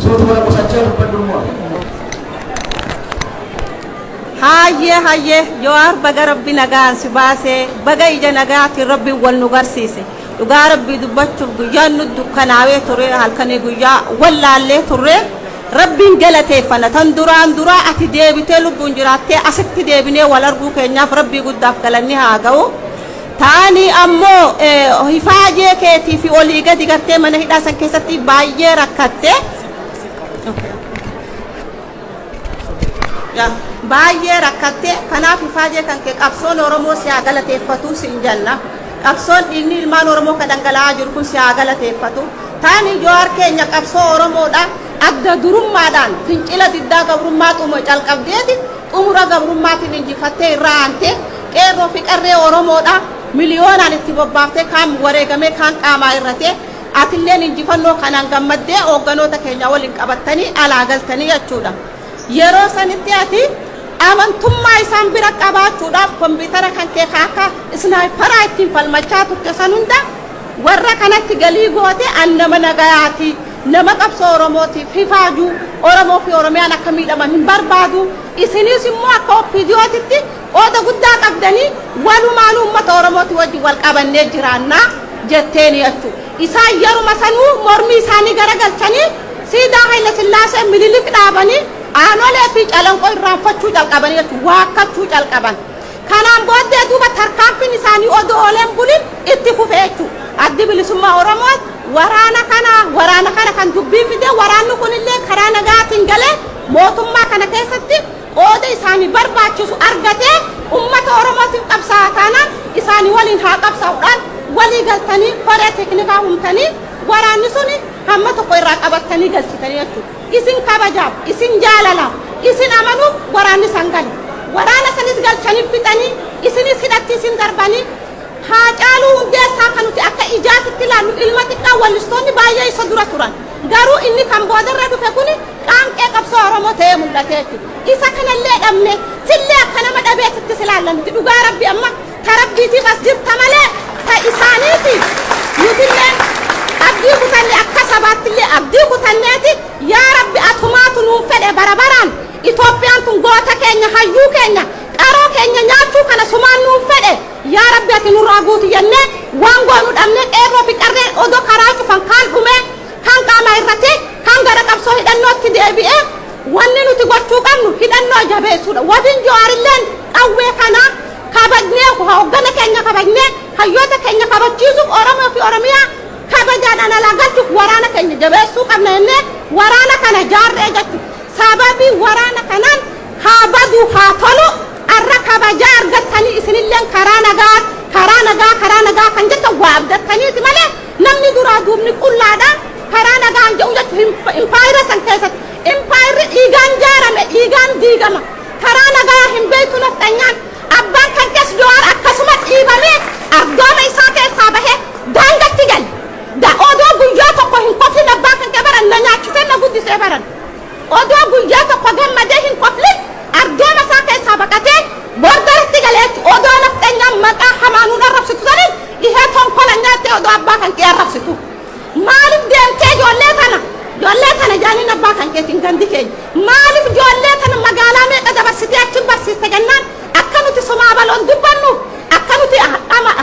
Suutu mana qusachaa dubbadhu immoo. Hayyee hayyee Jawaar baga rabbi nagaan si baasee baga ija nagaatiin rabbi wal nu garsiise dhugaa rabbii dubbachuuf guyyaan nu dukkanaawee ture halkanii guyyaa wallaallee turre rabbiin galateeffana tan duraan duraa ati deebitee lubbuun jiraattee asitti deebinee wal arguu keenyaaf rabbii guddaaf galanni haa ga'u. ta'anii ammoo hifaajee keetii fi olii gadi gartee mana hidhaa san keessatti baay'ee rakkatte baay'ee rakkatte kanaaf hifaajee kan kee qabsoon oromoo si haa galateeffatu siin janna qabsoon dhiigni ilmaan oromoo ka dhangala'aa jiru kun si haa galateeffatu taanii jowaar keenya qabsoo oromoodha adda durummaadhaan fincila diddaa gabrummaa xumura calqabdeeti xumura gabrummaatiin injifattee irraa aantee Qeerroo fi Qarree Oromoodha miliyoonaan itti bobbaaftee kaan wareegamee kaan qaamaa hir'atee atilleen injifannoo kanaan gammaddee hoogganoota keenya waliin qabattanii alaa galtanii jechuudha. Yeroo sanitti ati amantummaa isaan bira qabaachuudhaaf kompiitara kan kee ka akka isnaayparaa ittiin falmachaa turte san hunda warra kanatti galii gootee an nama nagayaati nama qabsoo Oromootiif hifaaju Oromoo fi Oromiyaan akka miidhaman hin barbaadu isiniis immoo akka OPDOtitti Qooda guddaa qabdanii walumaanuu ummata Oromootii wajjin wal qabannee jiraanna jetteeni jechuu. Isaan yeruma sanuu mormii isaanii garagalchanii siidaa Hayilasillaasee Minilik dhaabanii Aanolee fi Calanqoo irraanfachuu calqabanii jechuu, waakkachuu calqaban. Kanaan booddee duuba tarkaanfiin isaanii odoo oolee hin bulin itti fufe jechuu. Addi Bilisummaa Oromoos waraana kana waraana kana kan dubbii fide waraanni kunillee karaa nagaatiin galee mootummaa kana keessatti qooda isaani barbaachisu argatee ummata Oromootiif qabsaa'a taanaan isaani waliin haa qabsaa'u dhaan walii galtanii koree teeknikaa humtanii waraanni suni hamma tokko irraa qabattanii galchitanii jechuudha. Isin kabajaaf, isin jaalalaaf, isin amanuuf waraanni san gale. Waraana sanis galchanii fixanii isinis hidhatti isin darbanii Haacaaluu Hundeessaa ka nuti akka ijaatitti ilaallu ilma xiqqaa wallistoonni baay'ee isa dura turan. Garuu inni kan boodarra dhufe kuni qaanqee qabsoo Oromoo ta'ee mul'ate jechuudha. Isa kanallee dhabne, sillee akka nama dhabeetti itti si ilaalla nuti. Dhugaa Rabbii amma ta Rabbiitiif as jirta malee ta isaaniiti. Nutilleen abdii kutanne akka sabaattillee abdii kutanneeti yaa Rabbi atumaatu nuun fedhe bara baraan Itoophiyaan tun goota keenya, hayyuu keenya, qaroo keenya nyaachuu kana sumaan nuun fedhe. Yaa Rabbi ati nurraa guuti jennee waan goonu dhabnee qeerroo fi qarreen odoo karaa cufan kaan dhumee, kaan qaama hir'atee, kaan gara qabsoo hidhannootti deebi'ee wanni nuti gochuu qabnu hidhannoo jabeessuudha. Wabiin Jawaarilleen qawwee kana kabajnee hooggana keenya kabajnee hayyoota keenya kabachiisuuf Oromoo fi Oromiyaa kabajaadhaan alaa galchuuf waraana keenya jabeessuu qabna jennee waraana kana jaarree jechuudha. Sababii waraana kanaan haa badu haa tolu. Arra kabajaa argattanii isinilleen karaa nagaa, karaa nagaa, karaa nagaa kan jettan waa abdattaniiti malee namni duraa duubni qullaadha. Karaa nagaan jedhu jechuun impaayera san keessatti impaayerri dhiigaan jaarame dhiigaan diigama. Karaa nagaa hin beektu nafxanyaan. Abbaan kankees Jawaar akkasuma dhiibamee ardooma isaa keessaa bahee daangatti gale. Da odoo guyyaa tokko hin koflin abbaan kankee bara na nyaachisee na guddisee baran. Odoo guyyaa tokko gammadee hin koflin argaama isaa keessaa baqatee bor garatti galee achi odoo nafxenyaan maqaa hamaa nuun arrabsitu saniin dhihee tonkola nyaattee odoo abbaa kankee arrabsitu maalif deemtee ijoollee tana ijoollee tana jaaniin abbaa kankeetiin gandi keenya maalif ijoollee tana magaalaa meeqa dabarsitee achi barsiiste jennaan akka nuti somaabaloon dubbannuuf akka nuti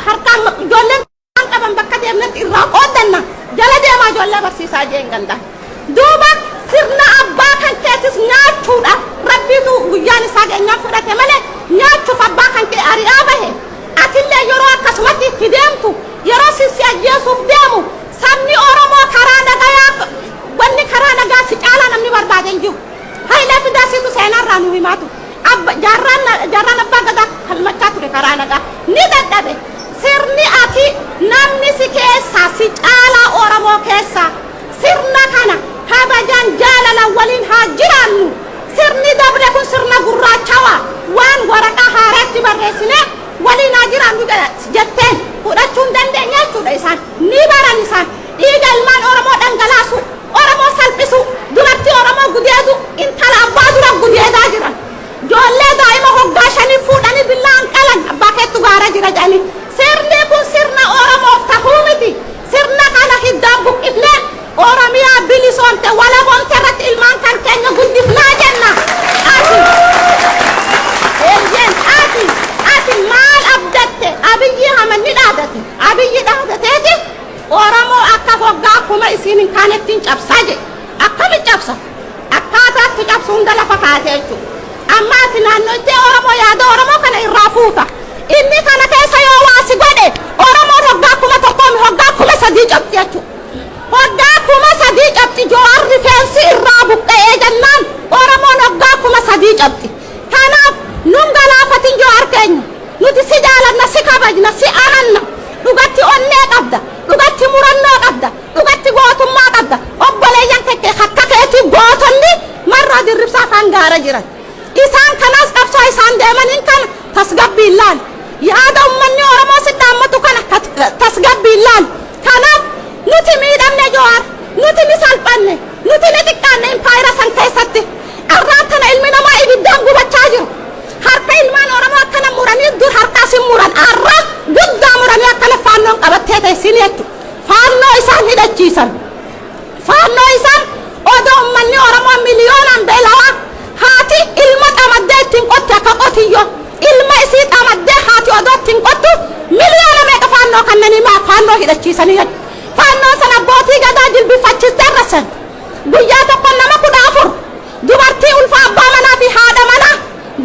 harkaa ijoolleen waan qaban bakka deemnetti irraa qooddanna jala deemaa ijoollee barsiisaa jeen gandaan. Duuba sirna abbaa kan keetis nyaachuudha. Rabbiitu guyyaan isaa geenyaan fudhate malee nyaachuuf abbaa kan kee ari'aa bahe. Atillee yeroo akkasumatti itti deemtu yeroo si si ajjeesuuf deemu sabni Oromoo karaa nagayaa wanni karaa nagaa si caalaa namni barbaade hin jiru. Hayilee Fidaa siitu seenaa irraa nuu himaa ture. Abba, jaarraan, jaarraan Abbaa Gadaa falmachaa ture karaa nagaa. Ni dadhabe. Sirni ati namni si keessaa, si caalaa Oromoo keessaa. Sirna kana kabajaan, jaalalaan waliin haa jiraannu. Sirni dabre kun sirna gurraachawaa waan waraqaa haaraa itti barreessinee waliin haa jiraannu jedha jetteen fudhachuu hin dandeenye jechuudha isaan. Ni baran isaan. Dhiiga ilmaan Oromoo dhangalaasuu, Oromoo salphisuu, dubartii Oromoo gudeeduu, intala abbaa dura gudeedaa jiran, joollee daa'ima hoggaa shanii fuudhanii billa'aan qalan abbaa keettu gaara jira jedhanii. Sirni kun sirna Oromoof tahu miti. Sirna kana hiddaan buqqifnee Oromiyaa bilisoomte, walaboomte irratti ilmaan kan keenya guddifnaa jenna. Ati, eeyyeen, ati, ati maal abdatte? Abiyyii Ahmad ni dhaadate. Abiyyi dhaadateeti. Oromoo akka goggaa akkuma isiin hin kaanetti hin cabsaa jedhe. Akkamitti cabsa? Akkaataa itti cabsu hunda lafa kaa'eeti jechuudha. Amma ati naannoytee Oromoo yaada Oromoo kana irraa fuuta. Inni kana keessa yoo waa si godhe Oromoon hoggaa kuma tokkoo mi hoggaa kuma sadii cabxi jechuudha. Hoggaa kuma sadii cabxi Jawaar rifeensi irraa buqqa'ee jennaan Oromoon hoggaa kuma sadii cabxi. Kanaaf nun galaafatin yoo argeenye nuti si jaalanna si kabajna si amanna dhugatti onnee qabda dhugatti murannoo qabda dhugatti gootummaa qabda obboleeyyan kekke akka keetii gootonni marroo dirribsaa faan gaara jiran isaan kanaas qabsoo isaan deemaniin kana tasgabbiin laali yaada ummanni oromoo si dhaammatu kana tasgabbiin laali kanaaf nuti miidhamne yoo ar nuti ni salphanne Nuti ni xiqqaanne impaayera san keessatti. Arraan tana ilmi namaa ibiddaan gubachaa jiru. Harka ilmaan Oromoo akkana muranii dur harka as hin muran arra guddaa muranii akkana faannoon qabattee teessini jechu. Faannoo isaan hidhachiisan. Faannoo isaan odoo ummanni Oromoo miliyoonaan beelawaa haati ilma xamaddee ittiin qotti akka qotiyyoo ilma isii xamaddee haati odoo ittiin qottu miliyoona meeqa faannoo kannanii maa faannoo hidhachiisanii jedhu. Faannoo san abbootii gadaa jilbiffachistee arrassan. Guyyaa tokko nama 14, dubartii ulfaa abbaa manaa fi haadha manaa,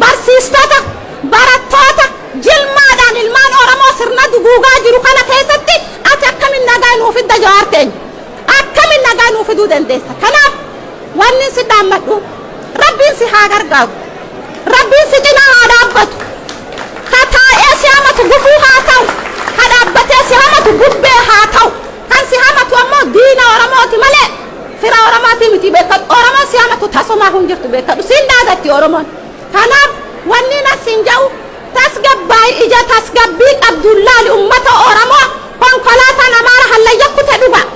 barsiistota, barattoota, jilmaadhaan ilmaan Oromoo sirna duguugaa jiru kana keessatti ati akkamiin nagaa nuu fidda Jawaar keenya? Akkamiin nagaa nuu fiduu dandeessa? Kanaaf wannin si dhaammadhu. Rabbiin si haa gargaaru. Rabbiin si cinaa haa dhaabbatu. Ka taa'ee si hamatu gufuu haa ta'u. Ka dhaabbatee si hamatu bubbee haa ta'u. Kan si hamatu ammoo diina Oromooti malee fira Oromootii miti beekkadhu. Oromoon si hamatu tasumaahuu hin jirtu beekkadhu. Siin daagatti Oromoon. Kanaaf wanniin an siin ja'u tasgabbaayi ija tasgabbii qabduun laali ummata Oromoo konkolaataan Amaara hallayya kute dhugaa.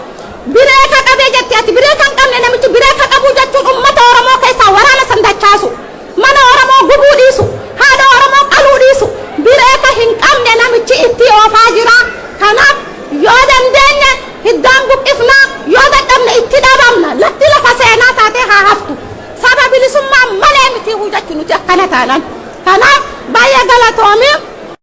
Biree ka qabe jette ati biree kan qabne namichi biree ka qabuu jechuun ummata oromoo keessaa waraana san dachaasu mana oromoo gubuu dhiisu haadha oromoo qaluu dhiisu biree ka hin qabne namichi ittii oofaa jira kanaaf yoo dandeenye hiddaan buqqifnaa yoo dadhabne itti dhabamna latti lafa seenaa taatee haa haftu saba bilisummaa malee mitiihuu jechu nuti akkana taanan kanaaf baay'ee galatoomii